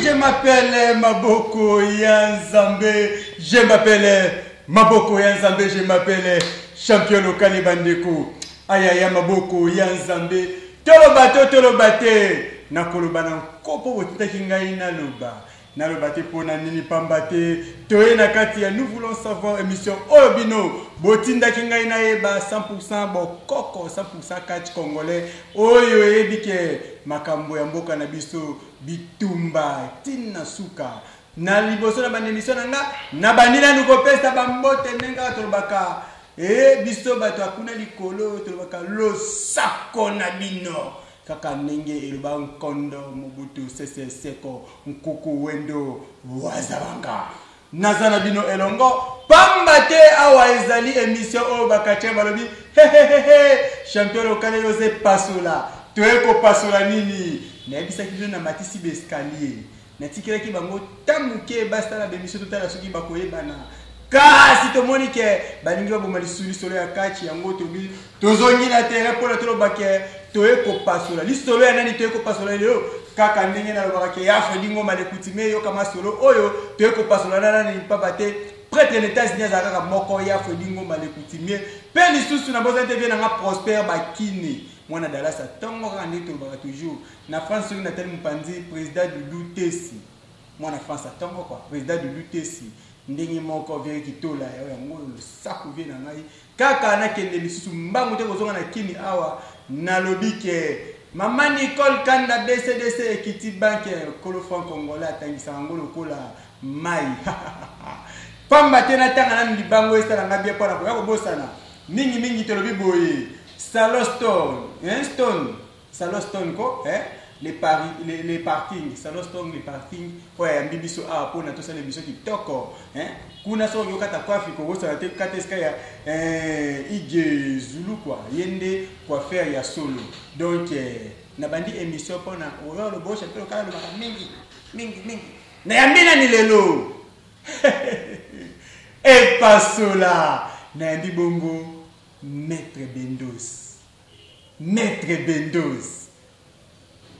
je m'appelle Maboko Yanzambe, je m'appelle Maboko Yanzambe, je m'appelle champion local bandeko. Ayaya Maboko Yanzambe, toloba to toloba te, nakoloba na nkopo botutaki ngai naloba. Naloba te pona nini pamba te toye na kati ya nous voulons savoir emission oyo bino botindaki ngai nayeba 100% bokoko 100% catch congolais oyo eyebi ke makambo ya mboka na biso bitumba tin na suka na liboso na banda emission na nga nabandi nanu kopesa bambote ndenge kaka tolobaka e biso bato akuna likolo tolobaka losako na bino Kaka ndenge eloba nkondo Mobutu Sese Seko Nkuku Wendo Wazalanga. Naza na bino elongo pamba te awa ezali emission oyo bakatien balobi hehehehe champion lokale yoze pasola toye kopasola nini nayebisaki bino na matisi bescalier Natikelaki bango ntango moke basala bemisio totala soki bakoyebana. Kasi tomoni ke balingi baboma lisusu lisolo ya kachi, yango tobi tozongi na tere mpo na toloba ke toye kopasola lisolo ya nani toye kopasola lelo kaka ndenge nalobaka ke ya fredi ngoma le kutime eyoka masolo oyo toye kopasola na nani mpamba te pretre na etats-unis azalaka kaka moko ya fredi ngoma le kutime mpe lisusu na bozali te vie na nga prosper bakine mwana dalasa ntongo kaka nde tolobaka toujours Na France soki na tali mupanzi president Doudou Tesi mwana France atongo kwa president Doudou Tesi ndenge moko veri kitola ya yango losaku vie na ngai kaka na kende lisusu mbangu te kozonga na kini awa na lobike Mama Nicole Kanda BCDC Equity Bank kolo franc congolais atangisaka yango lokola mai pamba te natanga nanu libango esala ngai bien mpona koya kobosana mingimingi tolobi boye salon stone stone Salon Stone ko eh le pari le, le parking Salon Stone le parking oyo ayambi biso awa mpo na tosala émission kitoko eh kuna soki okoki okata coiffe kobosana te kata esika ya eh, ige zulu kwa ye nde coiffeur ya solo donc eh, nabandi émission mpo na oyo lobosha mpe lokala lobaka mingi mingi mingi nayambi nani lelo epasola nayambi bongo maître bendos Maitre Bendos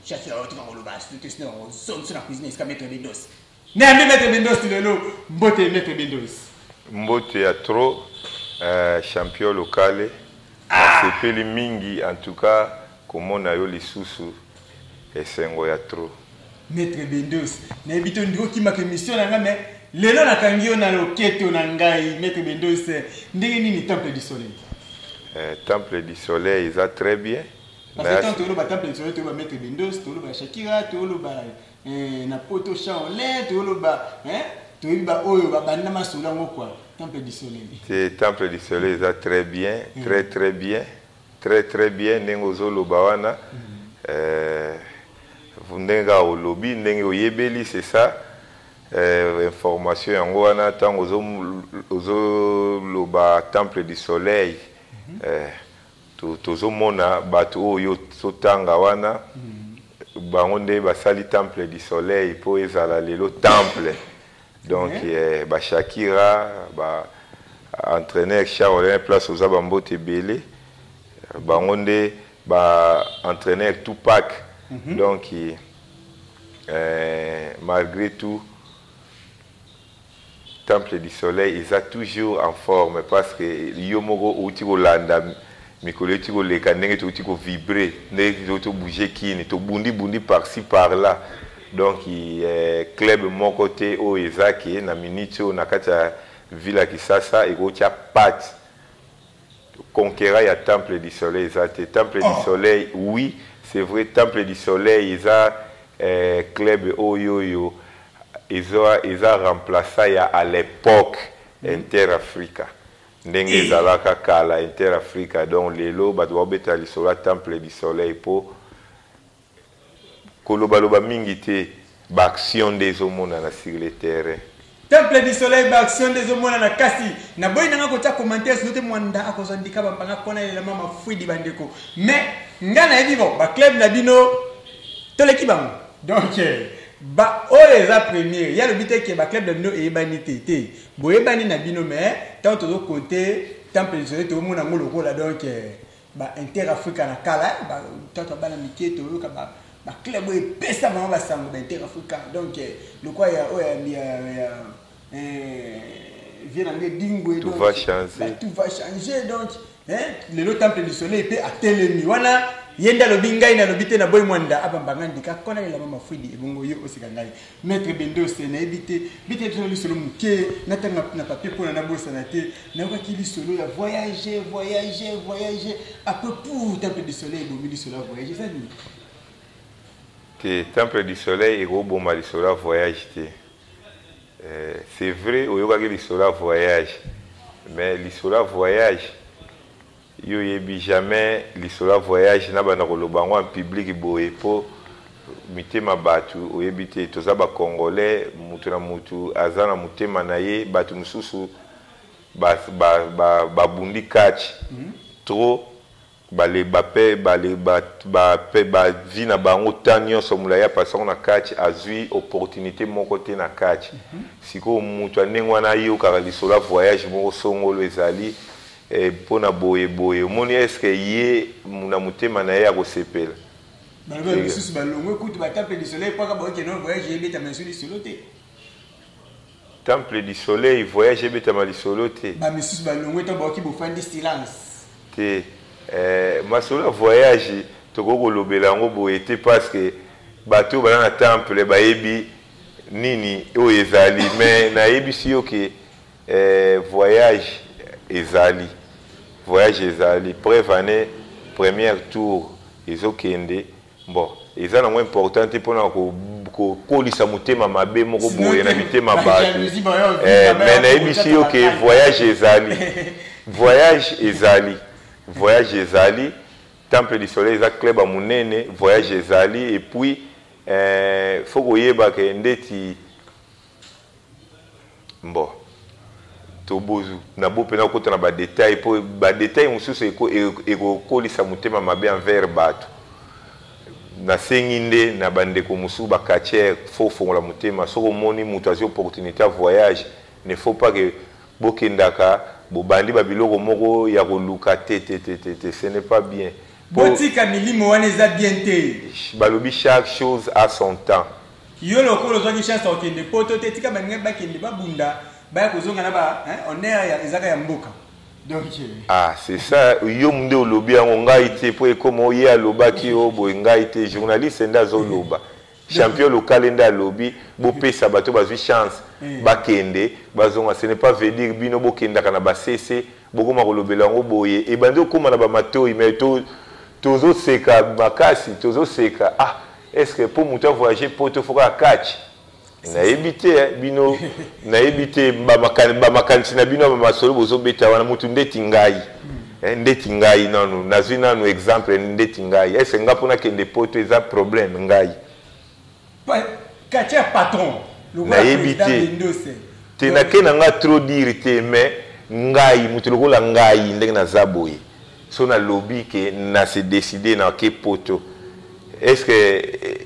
Chasse ya otika koloba asu te sino ozongisi na cuisine esika Maitre Bendos Nayambi Maitre Bendos lelo mbote Maitre Bendos Mbote ya trop euh, champion locale ah. Nasepeli mingi en tout cas komona yo lisusu Esengo ya trop. Maître Bendos, nayebi te ndiko kimaka emission na nga mais lelo nakangi yo na loketo na ngai Maître Bendos, ndenge nini Temple du Soleil? Eh, Temple du Soleil eza très bien. Parce que tant toloba Temple du Soleil, toloba Maître Bendos, toloba Shakira, toloba eh, na poto Shaolin, toloba hein, toyebi ba oyo babanda masolo yango quoi. Temple du Soleil. Te, Temple du Soleil eza très bien, très très bien. Très très bien ndenge ozoloba wana euh, ndenge kaka olobi ndenge oyebeli c'est ça euh, information yango wana ntango ozoloba temple du soleil mhm. euh, tozomona bato oyo totanga wana mhm. bango nde basali temple du soleil mpo ezala lelo temple donc eh, ba Shakira ba entraîneur Charles place oza ba mbote ebele bango nde ba entraîneur Tupac mm -hmm. donc eh, eh, malgré tout temple du soleil eza toujours en forme parce que yo moko outi kolanda mikolo euti koleka ndenge touti ko vibre ndenge touti tobouge kini tobundi bundi par ci par là donc eh, club moko te oyo eza ke na minute oyo na kati ya ville ya kisasa ekotya pate conquera ya temple du soleil eza te temple du oh. soleil oui c'est vrai temple du soleil eza eh, club oyo oyo eza, eza remplaça ya à l'époque mm. inter africa Ndenge eh. ezalaka kala Inter Africa donc lelo bato baobeta lisolo ya Temple du Soleil mpo kolobaloba mingi te baaction nde ezomonana sur le terrain temple du soleil baaction nde ezomonana kasi naboyi nanga kotya commentaire sino te mwanda akozwa ndika bampanga kona elelama mafwidi bandeko mais ngai nayebi bo baclub na bino toleki bango donc eh, baoyo eza premiere ye alobi te ke baclub na bino eyebani te te boyebani na bino mais ntango tozo compte temple lisole toomona yango lokola donc euh, ba inter africa na kala tata bana mike toyoka ba baclub oyo epesa bango basango ba inter africa donc euh, lokola ya oyo ya euh, vie na ngai dingwe tout va changer donc eh, lelo temple du soleil mpe atelemi wana ye nde alobi ngai nalobi te naboyi mwanda abamba ngai ndika kola elama mafuidi ebongo yo oseka ngai maître bendose nayebi te bite biso na lisolo moke natanga na papier mpona nabosana te nayokaki lisolo ya voyage voyage voyage apres pour temple du soleil ebomi lisolo ya voyage eza nini te temple du soleil ekoboma lisolo ya voyage te Eh, c'est vrai oyokaki lisolo ya voyage mais lisolo ya voyage yo oyebi jamais lisolo ya voyage nabanda koloba yango en public boye mpo mitema bato oyebi te toza bacongolais moto na moto aza na motema na ye bato mosusu babundi ba, ba, ba catch mm -hmm. trop Bale ba pe bale ba ba pe ba vie na bango temps nionso mulayi apasa ngo na catch azui opportunite moko te na catch sikoyo mutu ya ndenge wana ayokaka lisolo ya voyage moko songolo ezali eh, pona boye boye omoni est ce que ye na motema na ye akosepela Balobi Ega. misusu balongwe kutu batape lisolo epaka baoke non voyage ebeta mais ezui lisolo te. Temple du soleil voyage ebetama lisolo te. Ba misusu balongwe to baoki bofandi silence. Te eh, masolo ya voyage tokoki kolobela yango boye te parce que bato bana na temple bayebi nini oyo ezali mais nayebisi yo ke eh, voyage ezali voyage ezali preuve année première tour ezokende Bon, eza nango important te pona kokolisa motema mabe moko boye na mitema bato eh, me nayebisi yo ke voyage ezali voyage ezali voyage ezali temple du soleil eza club ya monene voyage ezali epuis eh, fo koyeba ke ndeti Bon. Tobo, na bo pena kota na ba details po ba details mususu eko ekokolisa motema mabe envers bato. Nasengi nde na ba ndeko mususu ba catcheurs faut fongola motema soki omoni mutu azwi opportunite ya voyage ne faut pas que bokendaka bobandi ba biloko moko ya koluka te te te te te ce n'est pas bien. Botika milimo wana eza bien te. Balobi chaque chose a son temps. Yo lokola ozwaki chance ya kokende poto te tika baninga bakende babunda baya kozonga na ba hein, honneur ya ezaka ya mboka. Donc ah c'est ça yo munde olobi yango ngai te po ekoma oye alobaki yo boye ngai te journaliste nda zo loba. Champion lokale nde alobi bopesa bato bazwi chance eh. bakende bazonga ce n'est pas veut dire bino bokendaka na basese bokoma kolobela yango boye ebandi okoma na bamatoi mais tozoseka to makasi tozoseka ah est ce que mpo moto avoyage poto foka ya catch nayebi te eh, bino nayebi te bamakanisi na bino ya bamasolo bozobeta wana motu ndeti ngai hmm. Eh, ndeti ngai nanu nazwi nanu exemple ndeti ngai ese nga mpo nakende poto eza problème ngai katia patron nayebi te te nake na nga trop dire te mais ngai moto lokola ngai ndenge naza boye so nalobi ke na se décide nake poto est ce que eh,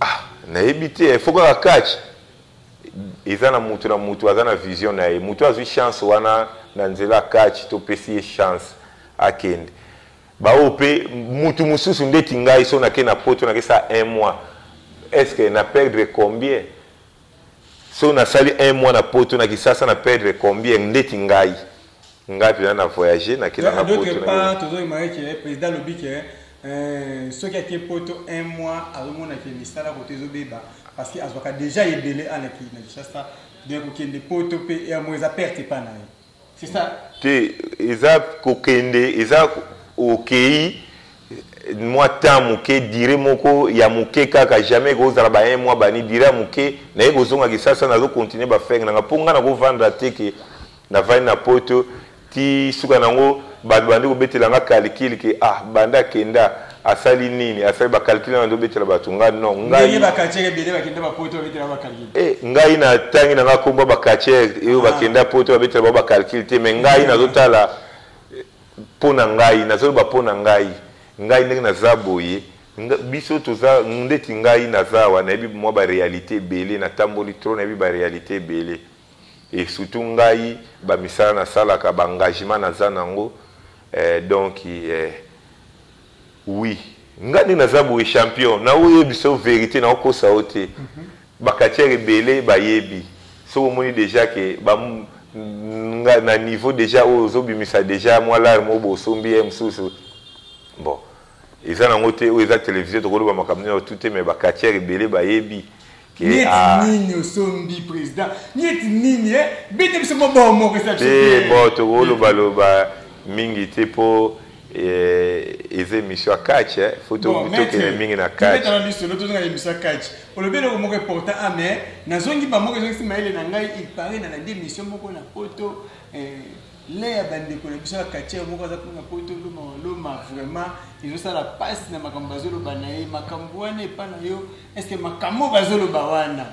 ah, nayebi te fo kaka catch eza na mutu na mutu aza na vision na ye mutu azwi chance wana na nzela catch topesi ye chance akende baoyo mpe mutu mosusu ndeti ngai so nake na poto nake sa un mois est ce que na perdre combien so nasali un mois na poto na kisasa na perdre combien ndeti ngai nga pena na voyage na kenda na poto na yo tozo imaginer que président lobi que euh, soki ake poto un mois azomona ke misala koto ezobeba parce que azwaka déjà ebele alaki na kinshasa donc kokende poto mpe yango eza perte epai na ye c'est ça te eza kokende eza okei mwa temps moke dire moko ya moke kaka jamais ekozala ba un mois bani dire ya moke naye kozonga kisasa nazocontinue bafenge nanga mpo ngai nakovandra te ke Navandi na poto ti suka nango bato bandi kobetela nga calcul ke ah banda akenda asali nini asali bacalcul wana ndobetela bato nga no ngai eh, ngai na tangi na nga kombo bacatier eyo ah. bakenda poto babetela bao bacalcul te mais ngai nazotala eh, mpo na ngai nazoloba mpo na ngai ngai ndenge naza boye biso toza ndeti ngai naza awa nayebi mwa barealité ebele natamboli tro nayebi barealité ebele et surtout ngai ba misala na salaka ba engagement na za nango eh, donc eh, oui ngai nde naza boye champion na oyo biso verite na okosa o te mm -hmm. ba katiere ebele bayebi soki omoni deja ke ba nga na niveau deja oyo ozobimisa deja mwa lare mo bosombi ye mosusu bon eza nango te oyo eza television tokoloba makambo nini tout te mais bakatiere ebele bayebi nieti ah. nini osombi président nieti nini eh? bete biso mobao moko esate bo tokolobaloba mingi te mpo eh, eza émission ya catch eh. fo tokende mingi na catcbetana lisolo tozonga émission ya catch olobi eloko moko important a ah, mais nazongi bamoko ezongisi mayele na ngai il paraît na landi émission moko na poto Lin ya bandeko na biso ya katia moko aza kuna poto loma loma vraiment ezosala pasi na makambo bazoloba na ye makambo wana epa na yo estce makambo bazoloba wana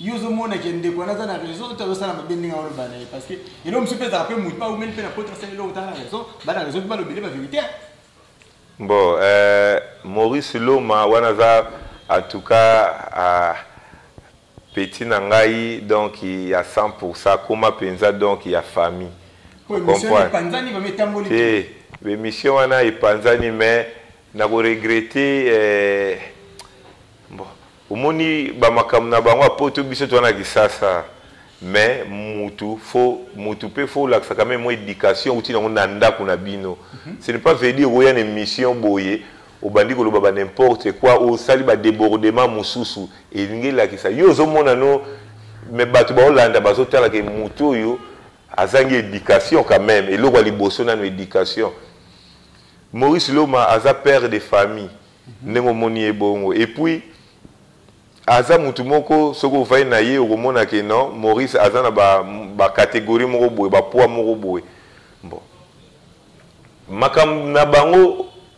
yo ozomona ke ndeko wana aza na raison to azosala mabe ndenge aoloba na ye parce que eloko mosusu mpe ezalaka mpe motu mpe aumeli mpe na poto asali eloko tala na raison bana na raison mpe balobele baverité bon euh, maurice loma wana aza en tout cas uh, Petit na ngai donc ya 100% akoma penza donc ya famille. Ko emission na panzani ba metamboli. Eh, ba emission wana epanzani mais na ko regretter eh bon omoni ba makambo na bango apoto biso twana kisasa mais mutu fo mutu pe fo lakisa quand même éducation outi nango na ndako na bino. Mm -hmm. Ce n'est pas veut dire oya na émission boye Obandi koloba ba n'importe quoi osali ba debordement mususu elingi elakisa yo ozo mona no mais batu bao landa bazo tala ke mutu oyo azangi education quand meme eloko ya liboso nanu education Maurice Loma aza père de famille ndenge omoni ye bongo et puis aza mutu moko soki ovai na ye okomona ke non Maurice aza na ba, ba categorie moko boye ba poids moko boye bon makambo na bango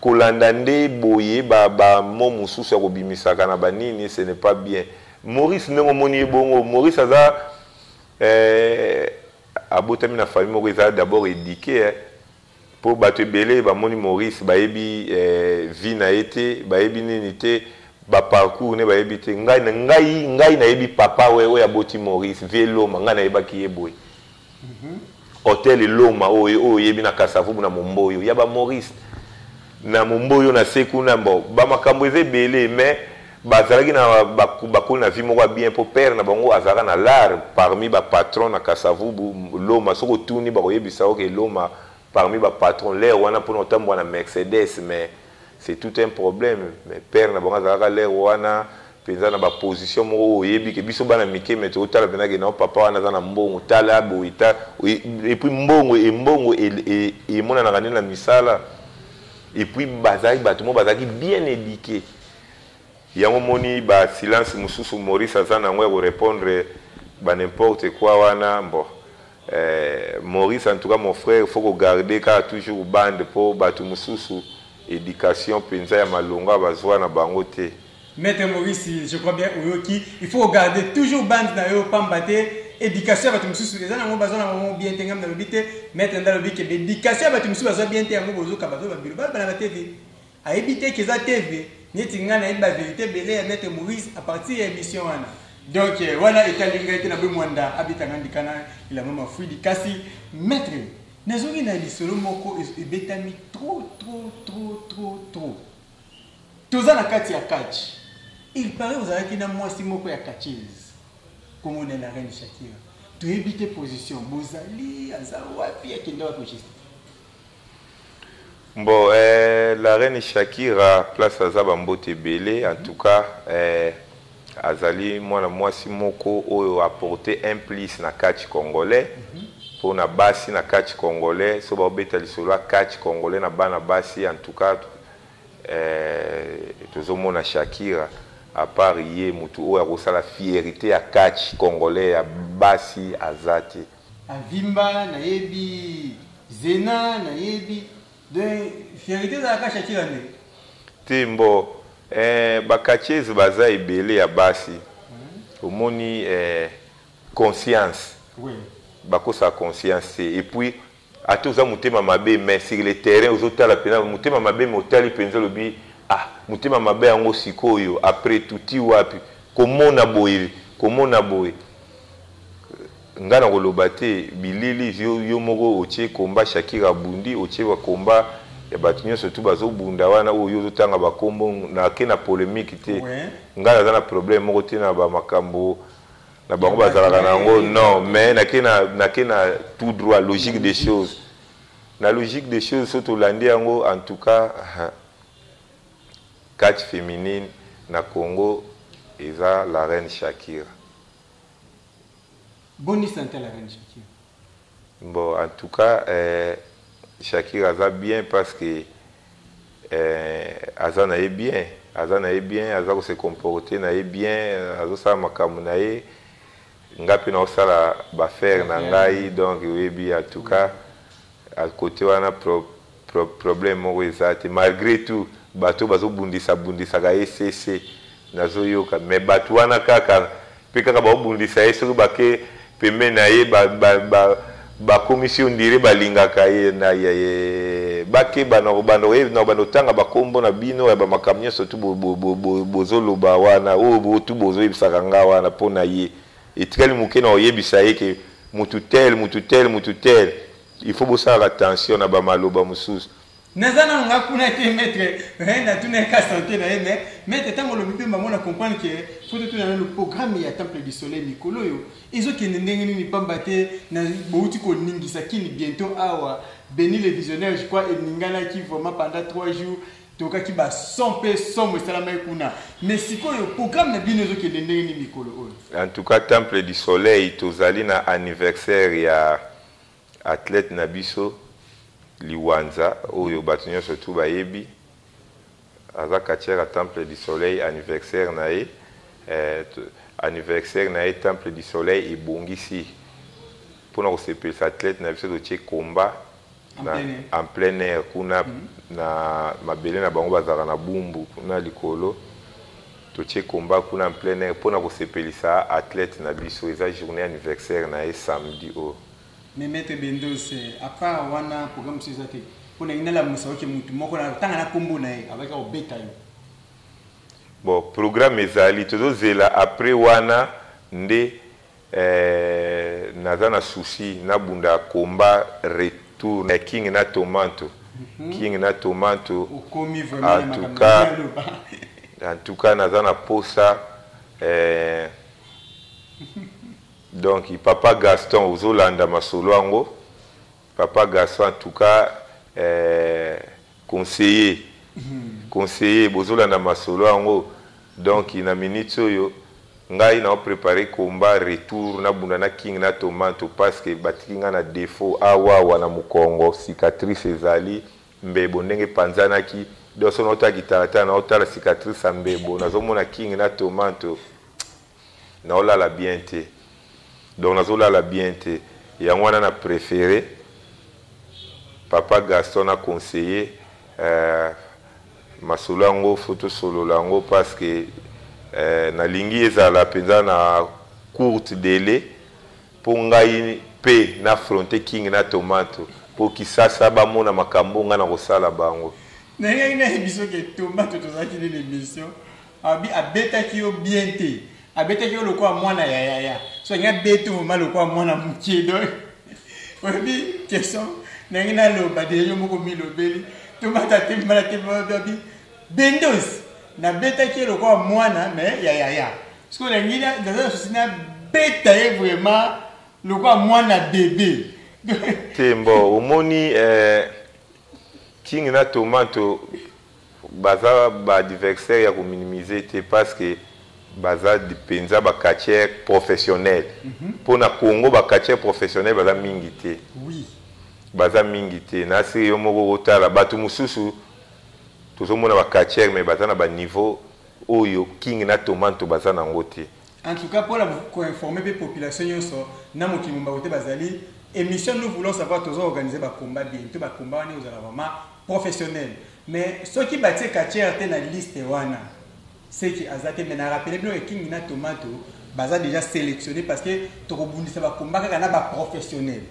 Kolanda nde boye ba ba mot mususu ya kobimisaka na ba nini ce n'est pas bien. Maurice ndenge omoni ye bongo Maurice aza eh, abotami na famille moko eza d'abord eduque eh. Po bato ebele bamoni Maurice bayebi eh, vie na ye te bayebi nini te ba parcours ne bayebi te ngai ngai ngai nayebi papa we oyo aboti Maurice vie loma ngai nayebaki ye boye hotel loma oyo oyo oyebi na kasavubu na momboyo ya ba maurice na momboyo na se kuna bo bamakambo eza ebele mais bazalaki na bakoli na vie moko ya bien mpo père na bango azalaka na lar parmi bapatron na kasavubu loma soki otuni bakoyebisa oke loma parmi bapatron lere wana mpona otambwa na mercedes mais c'est tout un problème mais père na bango azalaka lere wana mpenza na baposition moko oyo oyebi ke biso bana mike me totala mpenza ke nao papa wana aza na mbongo tala boye ta epuis mbongo embongo e, e, e, emonanaka nde na misala epuis bazalaki bato moko bazalaki bien édike yango moni basilence mosusu maurice aza na yango ya korepondre banimporte kua wana mbo Eh, Maurice en tout cas mon frère faut ko garder kaka toujours bande po batu mususu education penza ya malonga bazwa na bango te. Maître Maurice, je crois bien oyoki, il faut garder toujours bande na yo pamba te education ya batu mususu eza nango bazwa na bango bien te ngam nalobi te maître nda lobi ke education ya batu mususu bazwa bien te yango bozoka bazo babilo bana ba TV Ayebi te que eza TV, neti nga nayebi ba verite ebele ya Maitre Morise à partir ya emission wana. Donc wana etali ngai te, naboyi Muanda abeta nga ndika na elamba mafuidi. Kasi Maitre, nazongi na lisolo moko ebetami trop trop trop trop trop. Toza na kati ya catch. Il paraît ozalaki na mwasi moko ya catcheuse. Kombo na la reine Shakira. Toyebi te position bozali aza wapi akenda wapi juste. Bon eh, la reine Shakira place aza ba mbote ebele en tout cas eh, azali mwana mwasi moko oyo apporte un plus na catch congolais mpo na basi na catch congolais so baobeta lisolo ya catch congolais na bana basi en tout cas eh, tozomona Shakira à part ye motu oyo akosala fierité ya catch congolais ya basi aza te Avimba na yebi zena na yebi donc verite ezalaka kasha tila nde te mbo eh, bakachese baza ebele ya basi hmm. omoni eh, conscience oui. bakosaka conscience te et puis ata oza motema mabe mais sur le terrain ozotala mpenza motema mabe me otali mpenza olobi ah motema mabe yango sikoyo après tuti wapi komona boye komona boye Nga na koloba te bilili yo yo moko otie combat Shakira abundi otie ba combat ya batu nionso tout bazo bunda wana oyo yo ozo tanga ba kombo na ke na polemique te nga naza na problème moko te na ba makambo na bango bazalaka na yango non mais na ke na na ke na tout droit logique des choses na logique des choses so tolandi yango en tout cas catch féminine na Congo eza la reine Shakira Boni sante ya la reine Shakira. Bon en tout cas euh, Shakira aza bien parce que euh, aza na ye bien, aza na ye bien, aza ko se comporter na ye bien, azosala makambo na ye nga mpe naosala bafaire na ngai donc oyebi en tout cas à côté wana Pro, problème moko eza te malgre tout bato oyo bazobundisa bundisaka ye sese nazoyoka mais bato wana kaka mpe kaka baobundisa ye soki bake pembeni na ye bakomisi yo ndire balingaka ye na ye bakeba na kobanda oyebi na kobanda otanga bakombo na bino ya bamakambo nyonso tu bozoloba wana oyo botu bozoyebisaka nga wana mpo na ye etikali moke na oyebisa ye ke mutu tel mutu tel mutu tel Il faut bosalaka attention na ba maloba mosusu. Naza nanu nga kuna te maître, eh, natuna ye ka sante na ye mais maître ntango olobi mpe bango na comprendre que faut totuna nanu programme ya temple du soleil mikolo oyo ezokende ndenge nini mpamba te na bouti koningisa kini bientôt awa Beni le visionnaire je crois eninganaki vraiment pendant 3 jours tokaki ba son mpe somo esalamaki kuna mais sikoyo programme na bino ezokende ndenge nini mikolo oyo en tout cas temple du soleil tozali na anniversaire ya Athlète na biso Liwanza oyo batu nionso tout bayebi aza catcheur ya Temple du Soleil anniversaire na ye eh, anniversaire na ye Temple du Soleil ebongisi mpona kosepelisa athlète na biso totie combat na, en plein air kuna mm -hmm. na mabele na bango bazalaka na bumbu kuna likolo Totie combat kuna en plein air pona kosepelisa athlete na biso eza journee anniversaire na ye samedi oyo. Mais maitre Bendos à part wana programme mosusu eza te? Mpo nalingi nalamusa oke motu moko na tanga na kombo na ye abaki kobeta yo. Bon programme ezali tozozela après wana nde Eeh naza na souci na bunda combat retour na king na tomanto king na tomanto en tout cas en tout cas naza na posa eh, donc papa gaston ozolanda masolo yango Papa Gaston en tout cas eh, conseiller conseiller bozolanda masolo yango donc na minute oyo ngai nao prépare combat retour nabunda na king na tomanto parce que batiki ngai na défaut awawa na mokongo cicatrice ezali mbebo ndenge epanzanaki donc so naotala kitalatala naotala cicatrice ya mbebo nazomona king na tomanto Naolala bien te. Donc nazo lala bien te. Yango wana na prefere papa Gaston na conseiller euh, masolo yango faut tosolola yango parce que euh, nalingi ezala mpenza na courte délai mpo ngai mpe na fronte king na tomato mpo kisasa bamona makambo ngai nakosala bango nayaki nayebi soki tomato tozalaki nini emission Abi abetaki yo bien te. Abetaki yo lokola mwana ya yaya. So nga bete vraiment lokola mwana mukie donc. Oyebi question nangi na loba de yo moko milobeli. Tomata te mbala te babi. Bendos na betaki yo lokola mwana mais ya yaya. Siko nangi na naza susi na beta ye vraiment lokola mwana bebe. Te mbo omoni eh, King na Tomato Baza ba adversaires ya ko minimiser te parce que baza penza ba catcheurs professionnels. Po na Congo ba catcheurs professionnels baza mingi te. Baza mingi te. Na se yo moko o tala batu mosusu tozo mona ba catcheurs mais baza na ba niveaux oyo King na Tomanto baza na yango te. En tout cas pona ko informer pe population nionso na mokili mumba kote bazali emission nous voulons savoir tozo organiser ba combat bien to ba combat wana ozala vraiment professionnel mais soki batie catcheur te na liste wana seki aza te mais na rappeler bino ke kingi na tomato baza déjà sélectionné parce que tokobundisa ba combat kaka na ba professionnel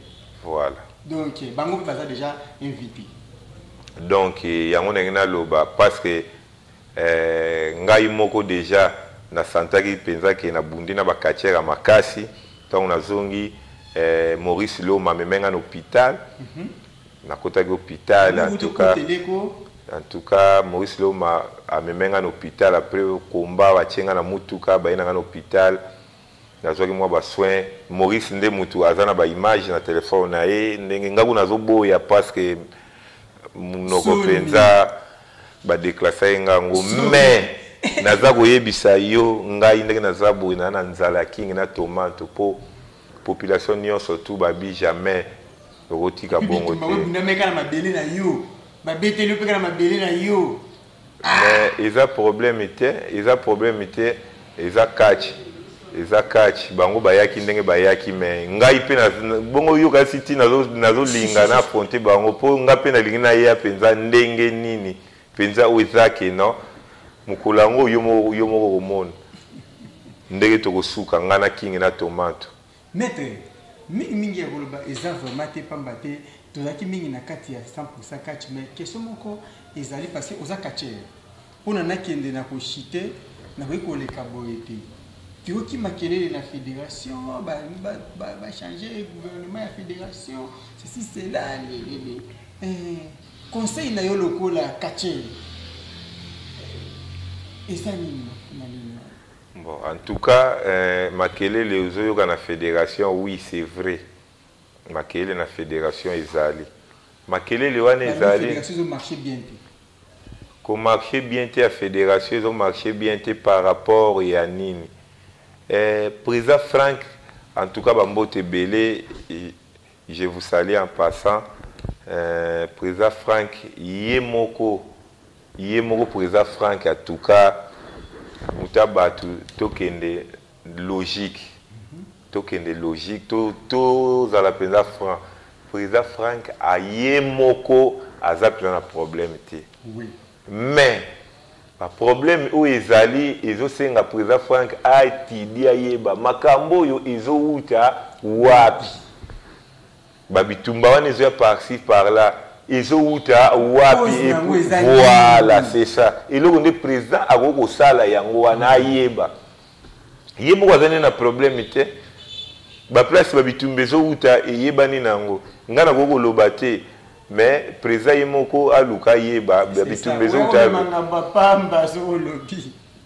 voilà donc bango pe baza déjà invité donc yango ndenge naloba parce que Eeh ngai moko dejà na santaki penza ke na bundi na ba catcheur ya makasi tango na zongi eeh Maurice Loma ameme ngai na hopital na kotaki hopital en tout cas en tout cas Maurice Loma ameme ngai na hopital après combat ba tie ngai na mutuka baye na ngai na hopital Nazwaki mwa ba soins. Maurice nde mutu aza na ba images na telephone na ye ndenge nga kuna nazoboya parce que munoko penza ba declassa ye nga ngo mais naza koyebisa yo ngai ndenge naza boye na na nzala ya kingi na tomato po population nyonso tu babi jamais okotika bongo te babeteli yo mpe kaka na mabele na yo mais eza problème te eza problème te eza catch eza catch bango bayaki ndenge bayaki mais ngai mpe bongo yoka si ti nazolinga na affronte bango mpo ngai mpe nalingi naya mpenza ndenge nini mpenza oyo eza ke non mokolo yango yo moko okomona ndenge tokosuka ngai na kingi na tomato Maitre, mingi mingi ya koloba eza vraiment te pamba te tozalaki mingi na kati ya 100% catch mais question moko ezali parce que oza catcheur pona nakende na koshite nakoki koleka boye te toyoki makelele na fédération bachange gouvernement ya fédération ceci cela lelele eh, conseil na yo lokola catcheur eza nini na nini Bon, en tout cas, euh, makelele ozoyoka na federation, oui, c'est vrai. Makelele na federation ezali. Makelele wana ezali. Federation ezo marcher bien te. Ko marcher bien te ya federation ezo marcher bien te par rapport ya nini? Euh, président Frank en tout cas bambote ebele Je vous salue en passant euh, Preza Frank ye moko ye moko Preza Frank en tout cas muta batu tokende logique tokende logique tozala mpenza franc président frank aye moko aza mpenza na problème te oui. Mais ba problème oyo ezali ezo senga president Franck a etudie ayeba makambo oyo ezo wuta wapi. Ba bitumba wana ezo ya par ci par là ezo wuta wapi et voilà c'est ça eloko nde president akoki kosala yango wana ayeba. Ye moko aza nde na problème te ba place ba bitumba ezo wuta eyebani na yango nga nakoki koloba te. mais president ye moko aluka ayeba bitumba ezouta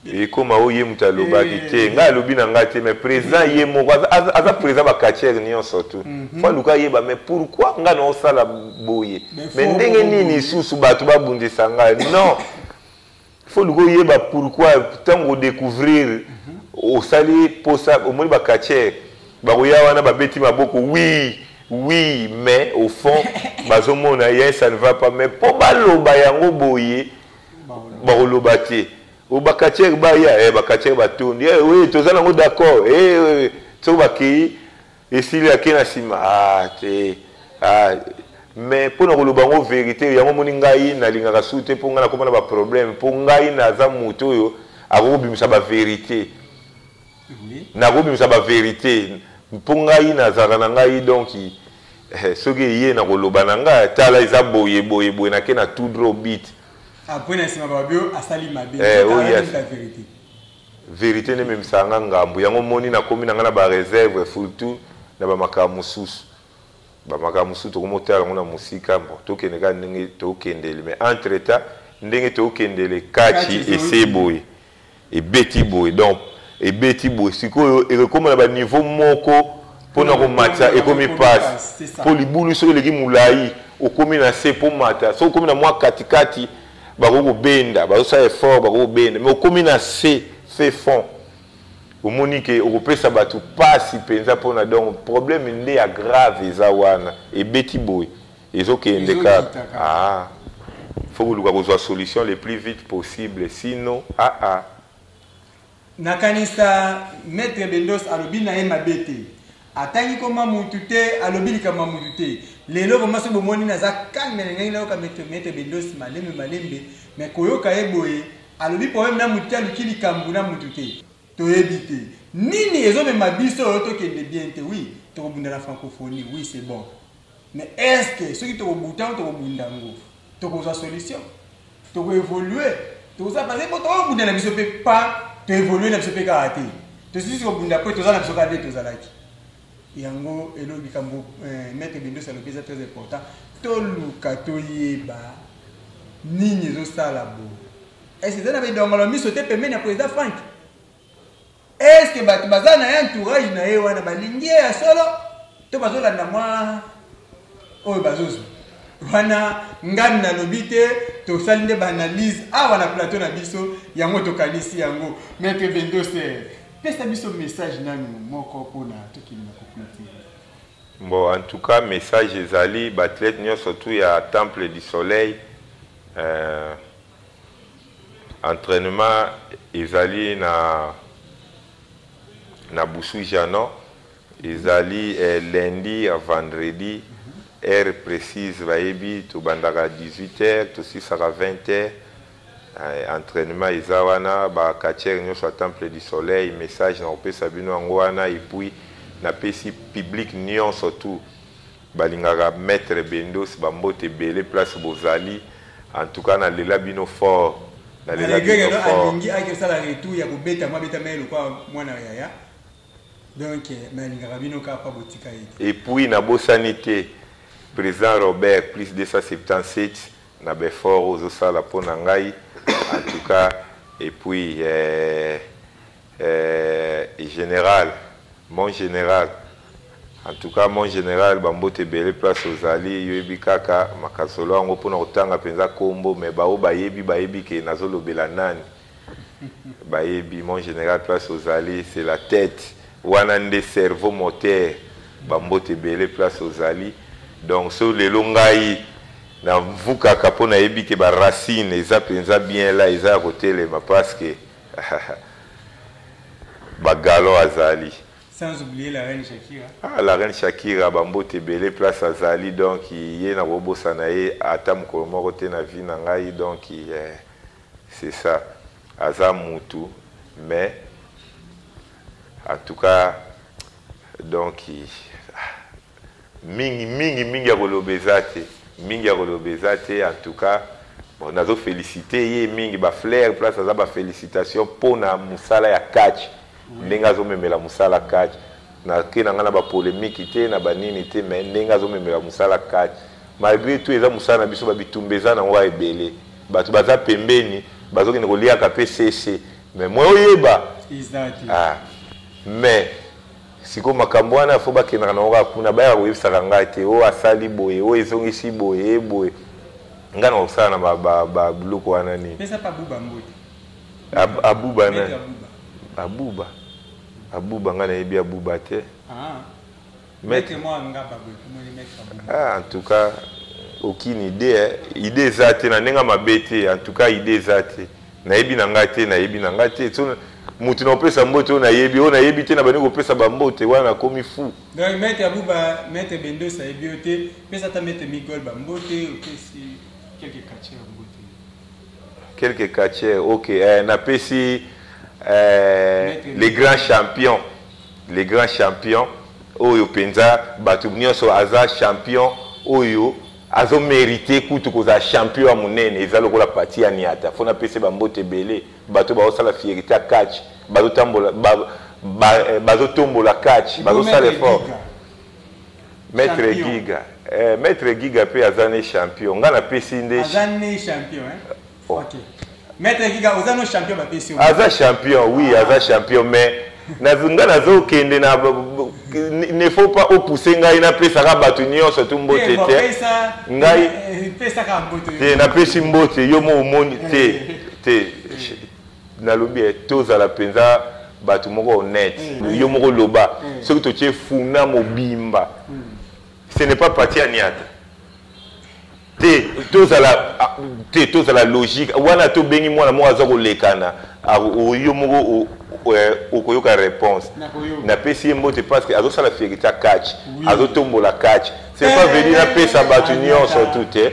ekoma oyo ye moto alobaki eh. te ngai alobi na ngai te mais président ye moko aza président bacatiere nyonso tu mhm. fo aluka ayeba mais pourquoi ngai naosala boye mais ndenge nini lisusu bato babundisa ngai non faut luka oyeba pourquoi ntango odecouvrir osali posa omoni bacatcher bakoya wana babeti maboko wi wi mais au fond bazomona ye ça ne va pas mais mpo baloba yango boye bakoloba te bacatcher baya eh, bacatcher batondi eh, oui toza nango d'accord eh, soki bakei Esili ake na sima ah te ah mais mpo na koloba yango verite yango omoni ngai nalingaka su te mpo ngai nakoma na baproblème mpo ngai naza moto oyo akoki kobimisa baverite nakoki kobimisa baverite mpo ngai nazalaka na ngai donk eh, soki eye na koloba na ngai tala eza boye boye boye nake na tout dro bit apres ah, na nsima babio asali mabe eh, oh, yes. Verite nde ememisaka nga ngambu. Yango omoni nakomi na nga na ba reserve surtout na ba makambo mosusu. Ba makambo mosusu tokomi kotala yango na mosika mbo tokende kaka ndenge tokendele mais entre temps ndenge tokendele kachi ese boye ebeti boye donc ebeti boye sikoyo ekokoma na ba niveau moko mpo na komatisa ekomi mpasi mpo libulu soki eleki molai okomi na se mpo mata soki okomi na mwa katikati bakoki kobenda bazosala effort bakoki kobenda mais okomi na se se fond omoni ke okopesa bato mpasi mpenza mpona donc problème nde ya grave eza wana ebeti boye ezokende kaka ah. fo koluka kozwa solution le plus vite possible sino aa ah, ah. Nakanisa Maitre Bendos alobi na ye mabe te. Atangi koma mutu te, alobi likambo ya mutu te. Lelo vraiment soki bomoni naza calme na ndenge nayoka Maitre Maitre Bendos malembe malembe, mais koyoka ye boye alobi problème na mutu te, aluki likambo na mutu te. Toyebi te nini ezomema biso oyo tokende bien te. Oui, tokobunda na francophonie, oui c'est bon. Mais est-ce que soki tokobuta ngo tokobunda ngo tokozwa solution? toko evolue toza baze po tokobundela biso mpe pa toevolue na biso mpe kaka te tosisi kobunda mpo toza na biso kaka nde tozalaki yango elo likambo eh, maître bindosi alobi eza très important toluka toyeba nini ezosala bo ese eza na bidongolo miso te pembeni ya président frank Est-ce que bato baza na ye entourage na ye wana balingi ye ya solo to bazolanda mwa oyo bazozwa wana ngani nalobi te tosali nde baanalyse awa na plateau na biso yango tokanisi yango maitre bendoser pesa biso message nanu moko mpona tokende na koplotire bon en tout cas message ezali baathlète nyonso tu ya temple du soleil euh... Entrainement ezali na na Busuja no ezali eh, lundi à vendredi heure précise bayebi tobandaka 18 heures tosisaka 20 heures eh, entraînement eza wana ba catcheur nyonso ya temple du soleil message na kopesa bino yango wana epuis napesi public nyonso tout Balingaka maitre bendos ba mbote ebele place bozali en tout cas na lela bino fort na lela bino fort alingi ake osala retour ya kobeta mwa beta mai lokwa mwana yaya donc eh, mais alingaka bino kaka pa botika ye te et puis na bosani te président Robert plus 277 na befort ozosala mpo na ngai en tout cas et puis eh, Eh general mon general en tout cas mon general bambote ebele place ozali yoyebi kaka makasolo yango mpona kotanga mpenza kombo me baoyo bayebi bayebi ke nazolobela nani bayebi mon general place ozali c'est la tête wana nde cerveau moteur bambote ebele place ozali donc so lelo ngai navukaka mpo nayebi ke baracine eza mpenza bien la eza ya kotelema parce que Bagalon azali. Sans oublier la reine Shakira. Ah, la reine Shakira, bambote belé place à Zali, donc yé na bobosa na yé, ata mokolo moko te na vie na ngai, donc eh, c'est ça. Aza mutu, mais en tout cas, donc Mingi mingi mingi ya koloba eza te mingi ya koloba eza te en tout cas bon nazo felicite ye mingi ba flair place aza ba felicitation mpo na mosala ya catch ndenge azomemela mosala catch nake na ngai na bapolemiki te na banini te me ndenge azomemela mosala kati malgre tout eza mosala na biso babitumba eza nango kaka ebele bato baza pembeni bazokende koliaka mpe sese me mwe oyeba ah. me siko makambo wana fo bakendaka nango kaka kuna bayaka koyebisaka ngai te oyo asali boye oyo ezongisi boye ye boye ngai nakosala na babiloko wana nini abuba nani abuba abuba ngai nayebi abuba te ah. maître moi ngaba boye komoni maître ah en tout cas aucune idée hein. idée eza te na ndenge mabe te en tout cas idée eza te nayebi na ngai te nayebi na ngai te so moto na kopesa mbote oyo nayebi oyo nayebi te na bandi kopesa bambote wana nakomi fu donc mete abuba mete bendos ayebi yo te pesa ata mete migol bambote opesi quelque catcher mbote quelque catcher ok eh, napesi eh, les grands champions les grands champions oyo mpenza bato nyonso aza champion oyo Azo merite kutu kozala champion ya munene eza lokola pati ya niata fona pese ba mbote ebele bato bazo sala fierite ya catch bazo tambola ba, ba, eh, bazo tombola catch bazo sala effort maître giga eh, maître giga pe aza ne champion nga na pesi nde aza ne champion hein Okay. Maître Giga, oza no champion ba pesi. Aza champion, oui, ah. aza champion mais nazonga nazokende na ne faut pas opousse ngai napesaka bato nyonso tu mbote eh, te ngai eh, eh, te napesi mbote yo mo omoni te te nalobi tozala mpenza bato moko honnête mm. yo moko loba mm. soki totie funa mobimba mm. ce n'est pas parti ya niata te tozala te tozala logique wana tobengi mwana moko aza kolekana yo moko okoyoka réponse napesi ye mbote parce que azosala fierité ya catch azotombola catch c'est pas venu napesa bato nyonso tu te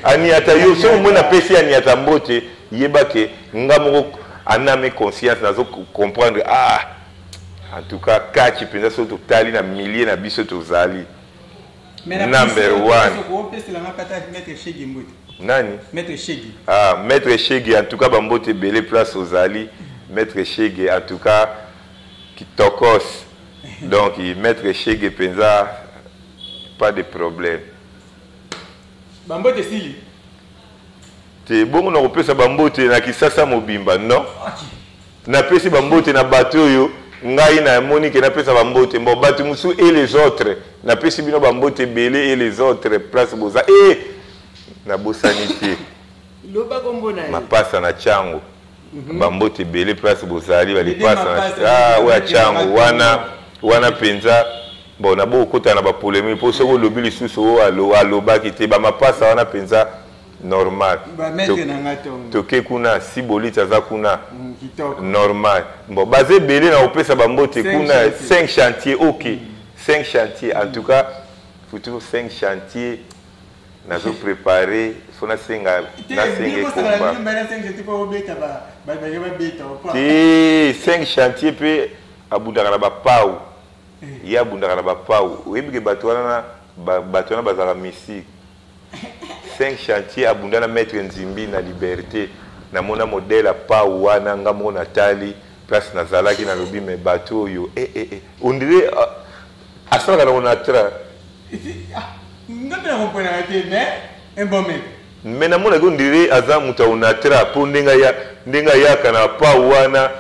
aniata yo soki omoi napesi aniata mbote yeba ke nga moko aname conscience nazo comprendre ah en tout cas catch mpenza soki totali na milieu na biso tozali number one nani ah, maître eshege en tout cas bambote ebele place ozali maître eshege en tout cas kitokos donc maître eshege mpenza pas de problème bambote esili te bongo na kopesa bambote na kisasa mobimba non okay. Napesi ba mbote na bato oyo ngai na moni ke napesa ba mbote mbo bato mosusu et les autres napesi bino ba mbote ebele et les autres place boza e nabosani te loba kombo na ye mapasa na chango mm -hmm. ba mbote ebele place bozali balipasa na ah, oyo ya chango wana wana mpenza bon nabokokota na bapolemike mpo soki olobi lisusu oyo alobaki te bamapasa wana mpenza normal toke kuna sibolit aza kuna mm, normal bon baza ebele na kopesa bambote kuna 5 chantier ok 5 mm. chantier en tout cas futu 5 chantier nazo prépare fo nasenga nasenge komba te 5 chantier mpe abundaka na bapau eh. ye abundaka na bapau oyebi ke bato wana bato wana bazalaka mystique 5 chantier abunda na maître nzimbi na liberte na mona modèle ya pau wana nga moko na tali place na zalaki na lobi mais bato oyo eh, eh, eh. on dirait uh, asalaka na onatra ah, nga mpe na comprenaka te mais un bon maître mais namonaki on dirait aza moto ya onatra mpo ndenge ayaka na pau wana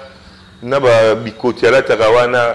na babikoti alataka wana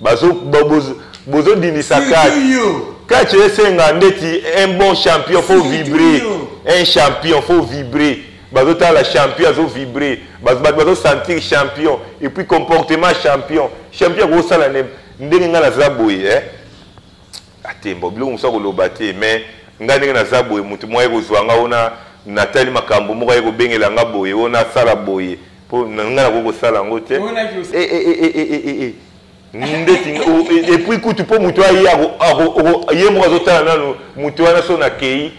bazo bozo bozo dimisa kati kati esenga ndeti un bon champion faut vibrer un champion faut vibrer bazo tala champion azo vibrer bazo bato bazo sentir champion et puis comportement champion champion ko sala ne ndenge nga naza boye eh atembo biloko mosusu akoloba te mais nga ndenge naza boye motu moko aye kozwa nga ona natali makambo moko aye kobengela nga boye ona asala boye po na nga nakoki kosala yango te ndeti epuis kutu mpo moto aye ye moko azotala nano moto wana so nakei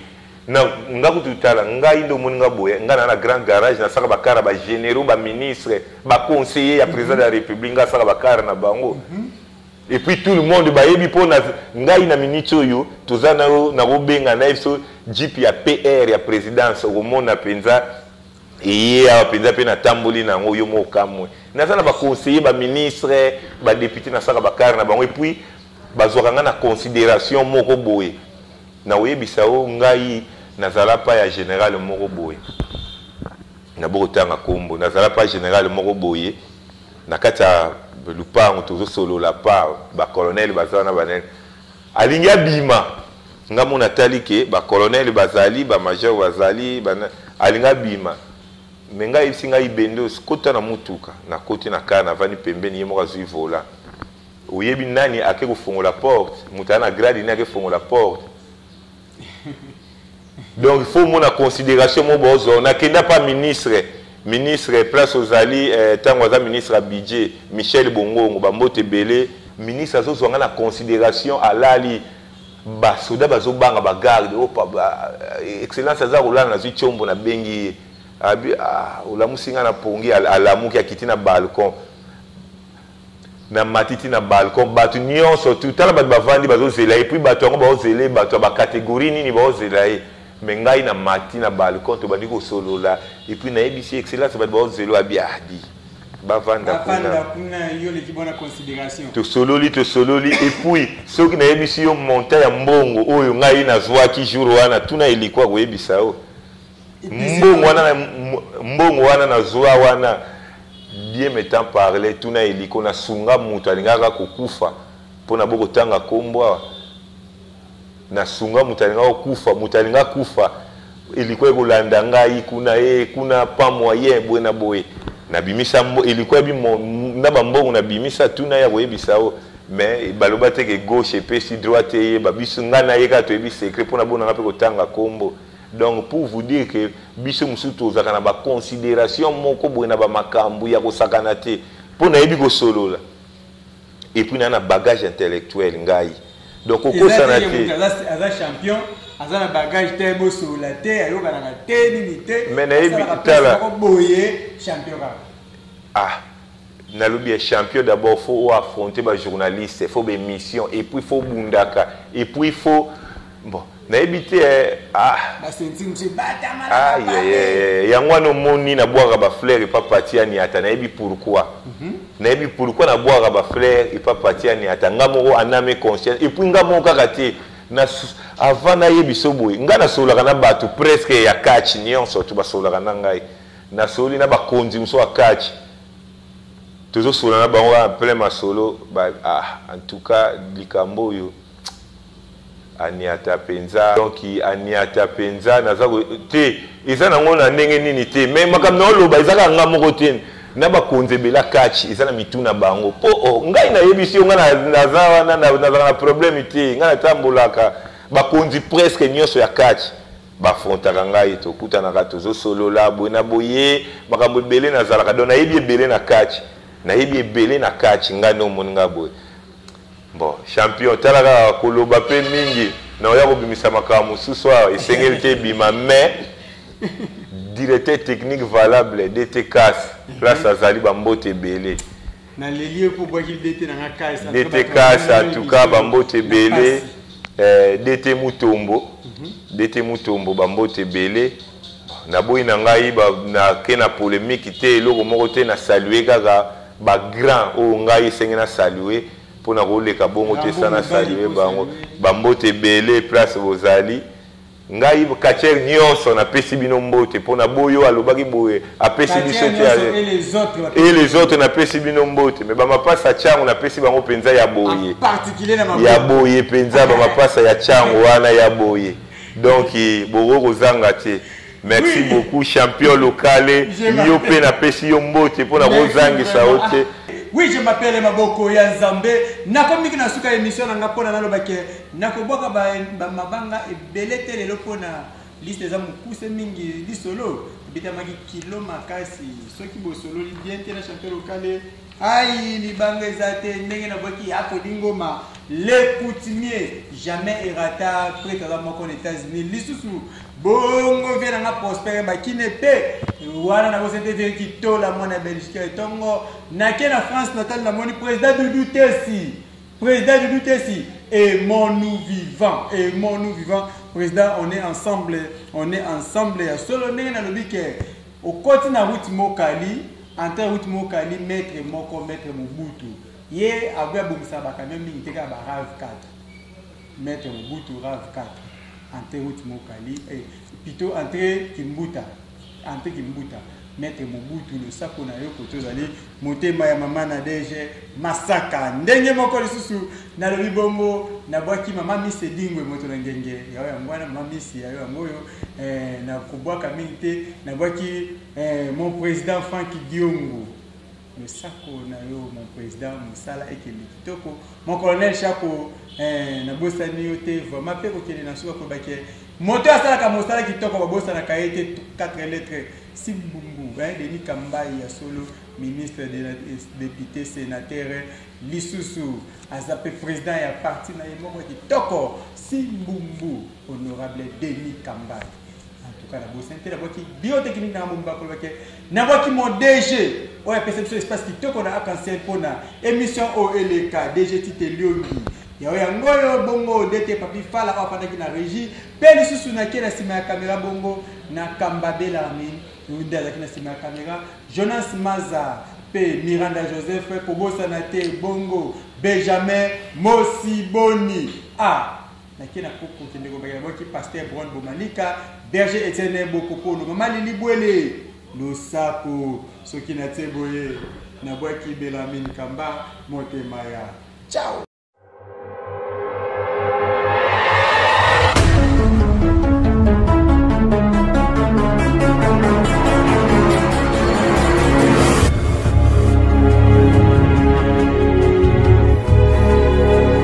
nga kutu tala ngai nde omoni nga boye ngai na na grand garage nasaka bakara bagénéraux baministre baconseiller ya président de la république ngai asaka bakara na bango mhm. et puis tout le monde bayebi mpo na ngai na minute oyo toza nayo nakobenga na ye biso jipe ya pr ya présidence okomona mpenza Eye awa penza pe natamboli na yango yo moko okamwe. Naza na ba conseillers, ba ministres, ba deputes nasalaka ba car na bango et puis bazwaka ngai na consideration moko boye. Nakoyebisa yo ngai nazala pa ya general moko boye, nabokotanga kombo, nazala pa general moko boye na kati ya lupango tozosolola pa ba colonels baza wana ba nani, Alingi abima nga mona tali ke ba colonel bazali ba major bazali ba... alingi abima me ngai ayebisi ngai bendos kota na motuka nakoti na kar navandi pembeni ye moko azwi vola oyebi nani ake kofongola porte moto aa na grade nini ake fongola porte donc faut mona considération mo bozo na kenda pas ministre ministre place ozali eh, tango aza ministre ya budget Michel Bongongo ba mbote belé ministre azo zonga na considération alali ba soda bazo banga ba garde oh pa ba eh, excellence aza kolala na zui chombo na bengi abi ah olamusi nga na pongi alamuki akiti na balcon na matiti na balcon bato nyonso tu tala bato bavandi bazozela ye puis bato yango baozela ye bato ya bacategorie nini baozela ye me ngai na mati na balcon tobandi kosolola epuis nayebisi excellence bato baozela abi adi bavanda kuna tosololi tosololi epuis soki nayebisi yo monta ya mbongo oyo ngai nazwaki jour wana tuna elikwa koyebisa yo mbongo wana mbongo wana nazwa wana bien metant parle tuna eliko nasunga moto alingaka kokufa mpo na bokotanga nkombo awa nasunga moto alingaka kokufa moto alinga kufa eliko ekolanda ngai kuna e kuna pa moyen boye na boye nabimisa eliko ya na bambongo nabimisa tuna ya koyebisa o mais baloba te ke gauche epesi droite eyeba biso ngai nayeka toyebi secret mpo na bonanga mpe kotanga nkombo Donc pour vous dire que biso mosusu tozalaka na ba consideration moko boye na ba makambo ya kosakana te mpo nayebi kosolola et puis na na bagage intellectuel ngai donc okosana te aza champion aza na bagage te bosolola te ayokanaka te nini te mais nayebi tala boye champion kaka ah nalobi ya champion d'abord faut o affronter ba journaliste faut ba émission et puis faut bundaka et puis faut bon nayebi te eh, ah. ah, yango wana omoni nabwaka bafleur epa pati ya niata nayebi pourkui mhm. nayebi pourkui nabwaka bafleur epa pati ya niata nga moko aname conscience epuis nga moko kaka te avant nayebi so boye nga nasololaka na bato presque ya catch nyonso to basololaka na ngai nasololi na bakonzi mosusu ya catch tozosolola na bango en plein masolo ba, ah, en tout cas likambo oyo aniata mpenza donc aniata mpenza naza te eza nango na ndenge nini te mais makambo na oloba eza kaka nga moko te na bakonzi ebela kachi eza na mitu na bango mpo oh, ngai nayebisi yo ngai naza wana nazalaka na problème te ngai natambolaka bakonzi presque nyonso ya kachi bafrontaka ngai tokutanaka tozosolola boye na boye makambo ebele nazalaka don nayebi ebele na kati nayebi ebele na kati ngai nde omoni ngai boye bon champion tala kaka koloba mpe mingi na oya kobimisa makambo mosusu awa esengeli te ebima mais directeur technique valable dtcas place azali bambote ebele DT Kasa, en tout cas, Bambote Belé, eh, DT Mutombo, mhm. DT Mutombo, Bambote Belé, naboyi na ngai nake na polémique te eloko moko te na salue kaka bagrand oyo oh, ngai esenge na salue mpo na koleka bongo te sa na salue bango bambote ebele place bozali Ngai catcheur nionso na pesi bino mbote pona boyo alobaki boye apesi biso te et les autres na pesi bino mbote mais ba mapasa chango na pesi bango penza ya boye ya boye penza ba mapasa ya chango wana ya boye donc boko kozanga te merci beaucoup champion locale yo pe na pesi yo mbote pona kozangisa yo te oui je m'appelle maboko ya nzambe nakomiki na suka ya émission na nga mpona nalobake Nakobwaka ba mabanga ebele te lelo mpo na liste eza mokuse mingi lisolo ebetamaki kilo makasi soki bosololi bien te na chanteur lokale ai libanga eza te ndenge nabwaki akolingoma le coutumier jamais erata prete aza moko na états-unis lisusu bongo vie nanga prospere bakine mpe wana nakosetete kitola mwana belgique etongo nake na france natal namoni président dudu tesi President de l'UTC, aimons-nous vivants, aimons-nous vivants. Président, on est ensemble, on est ensemble. Ya solo ndenge na lobi ke okoti na route Mokali, entre route Mokali, maître moko, maître Mobutu. Ye agoya bomisa ba camion mingi te ka ba RAV4. Maitre Mobutu Rav 4 entre route Mokali eh, plutôt entre Kimbuta entre Kimbuta Maitre Mobutu losako na yo koto ozali motema ya mama na dege masaka ndenge moko lisusu nalobi bongo nabwaki mama misi edingwe moto na ngenge yayo yango wana mama misi yayo yango oyo eh, nakobwaka mingi te nabwaki eh, mon président frank diongo losako na yo mon président mosala ekende kitoko mon colonel shako eh, nabosani yo te vraiment mpe kokende na suka koyeba ke moto asalaka mosala kitoko babosanaka ye te 4 lettre simbumbu eh, denis kambai ya solo ministre de la député sénateur lisusu aza mpe président ya parti na ye moko kitoko simbumbu honorable denis kambai en tout cas na bosi te na boki bio te kini na mumba ko ke na boki mon DG oyo apesa biso espace kitoko na arc-en-ciel pona émission o eleka DG Tite Liongi yawe yango oyo bongo dete papi fala oyo afandaki na régie mpe lisusu nake na nsima ya kamera bongo na kamba belarmin nde azalaki na nsima ya kamera jonas maza mpe miranda joseph kobosana te bongo benjamin mosiboni a ah. nake na koko kende kobakela boki pasteur bron bomanika berger etienne bokokolo mama lili bwele losako soki na tie boye na bwaki belamin kamba motema ya ciao